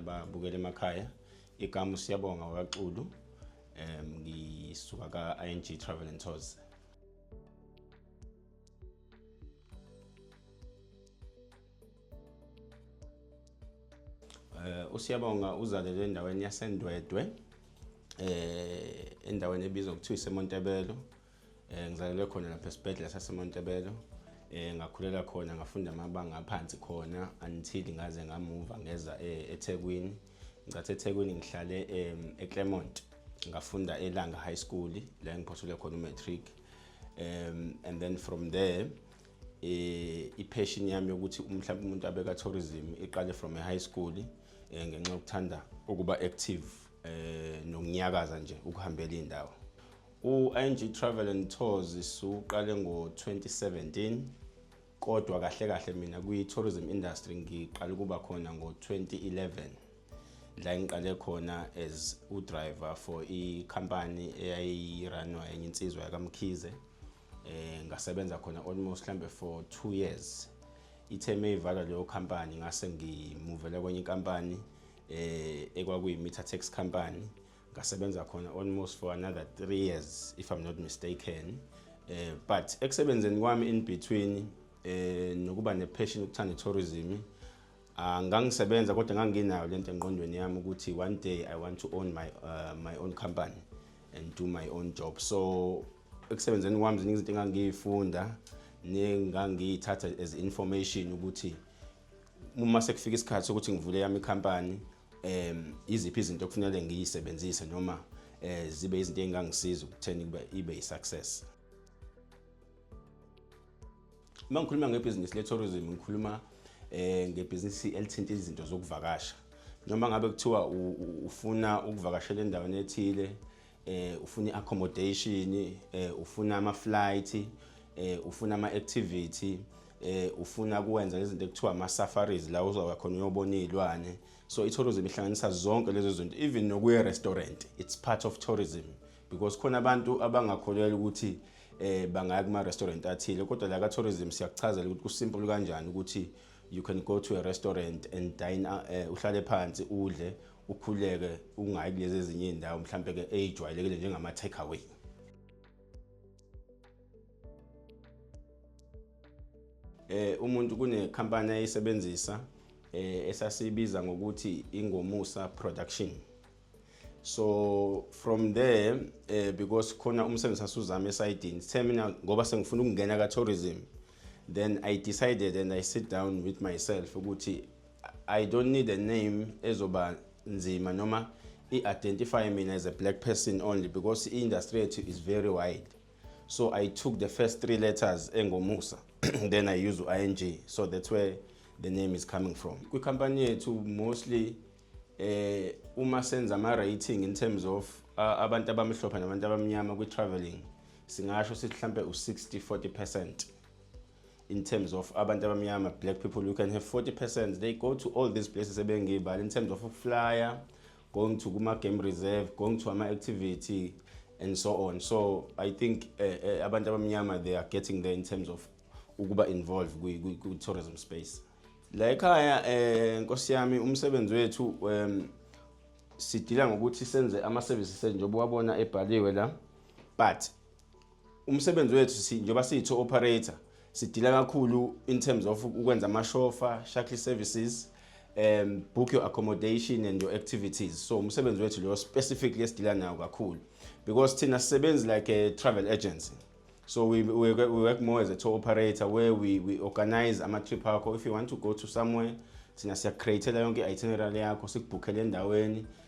ababukela emakhaya igama usiyabonga wakaxulu um ngisuka ka-ing travel and tours Eh, usiyabonga uzalelwe endaweni yasendwedwe eh endaweni ebizwa ngokuthiwa isemontebelo eh ngizalelwe khona lapha esibhedlela sasemontebelo eh ngakhulela khona ngafunda amabanga aphansi khona until ngaze ngamuva ngeza eh, eThekwini ngicathe ethekwini ngihlale um, eclermont ngafunda elanga high school la engiphothule khona umatric um, and then from there eh ipassion yami yokuthi mhlawumbe umuntu abeka tourism iqale from a high school eh, ngenxa yokuthanda ukuba active eh nokunyakaza nje ukuhambela indawo u-ing travel and tours siwuqale ngo-2017 Kodwa kahle kahle mina kwi-tourism industry ngiqale ukuba khona ngo-2011 la ngiqale khona as udriver for ikhampani eyayiranwa enye insizwa yakamkhize eh ngasebenza khona almost hlambe for 2 years ithe meyivalwa leyo company ngase ngimuvele kwenye inkampani eh ekwakuyimitha tax company ngasebenza khona almost for another three years if i'm not mistaken eh, but ekusebenzeni kwami in between eh, nokuba nepassion ukuthanda tourism ah, ngangisebenza kodwa nganginayo lento engqondweni yami ukuthi one day i want to own my uh, my own company and do my own job so ekusebenzeni kwami ziningi izinto engangiyifunda nengangiyithatha as information ukuthi uma sekufika isikhathi sokuthi ngivule yami company um iziphi izinto okufanele ngiyisebenzise noma um zibe izinto engangisiza ukutheni kube ibe yi-success uma ngikhuluma ngebhizinisi le-tourism ngikhuluma um ngebhizinisi elithinta izinto zokuvakasha noma ngabe kuthiwa ufuna ukuvakashela endaweni ethile eh ufuna iaccommodation eh ufuna ama flight eh ufuna ama activity eh ufuna kuwenza izinto ekuthiwa ama safaris la uzoba khona uyobona izilwane so i tourism ihlanganisa zonke lezo zinto even nokuye restaurant it's part of tourism because khona abantu abangakholelwa ukuthi eh bangaya kuma restaurant athile kodwa la ka tourism siyakuchazela ukuthi kusimple kanjani ukuthi you can go to a restaurant and dine uh, uhlale phansi udle ukhuleke ungayi kulezi ezinye iy'ndawo mhlampe-ke eyijwayelekile njengama-take away eh umuntu kunekhampani ayisebenzisa eh esasibiza ngokuthi ingomusa production so from there eh because khona umsebenzi sasuzama esidini sithe mina ngoba sengifuna ukungena ka tourism then i decided and i sit down with myself ukuthi I don't need a name ezoba nzima noma i-identify mina as a black person only because i-industry yethu is very wide so i took the first three letters engomusa then i use u-ing so that's where the name is coming from kwikhampani yethu mostly eh uma senza ama-rating in terms of uh, abantu abamhlophe nabantu abamnyama kwi-traveling singasho sithi mhlampe u-60 40 percent in terms of abantu abamnyama black people you can have 40 percent they go to all these places ebengiyibala in terms of ukuflyer going to kuma-game reserve going to ama-activity and so on so i think uh, uh, abantu abamnyama they are getting there in terms of ukuba involved kwi-tourism space la ekhaya um eh, nkosi yami umsebenzi wethu um sidila ngokuthi senze ama-services njengoba wabona ebhaliwe la but umsebenzi wethu si njengoba siyi-tour operator sidila kakhulu in terms of ukwenza amashofa shuttle services um book your accommodation and your activities so umsebenzi wethu leyo specifically esidila nayo kakhulu because thina sisebenzi like a travel agency so we, we, we work more as a tour operator where we, we organize ama-trip akho if you want to go to somewhere thina siyakreatela yonke i-itinerary yakho sikubhukhele endaweni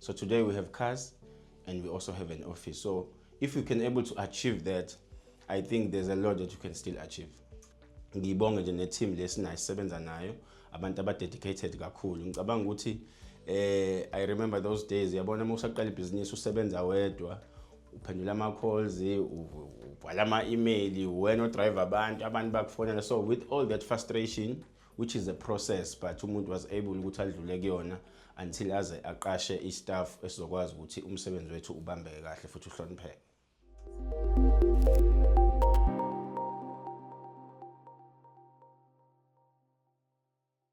So today we have cars and we also have an office. So if you can able to achieve that, I think there's a lot that you can still achieve. Ngibonge nje ne team lesinayo sisebenza nayo abantu aba dedicated kakhulu. Ngicabanga ukuthi eh I remember those days yabona uma usaqala ibhizinisi usebenza wedwa uphendula ama calls ubhala ama email wena odrive abantu abantu bakufonela so with all that frustration which is a process but umuntu was able ukuthi adlule kuyona until aze aqashe istaff esizokwazi ukuthi umsebenzi wethu ubambeke kahle futhi uhlonipheke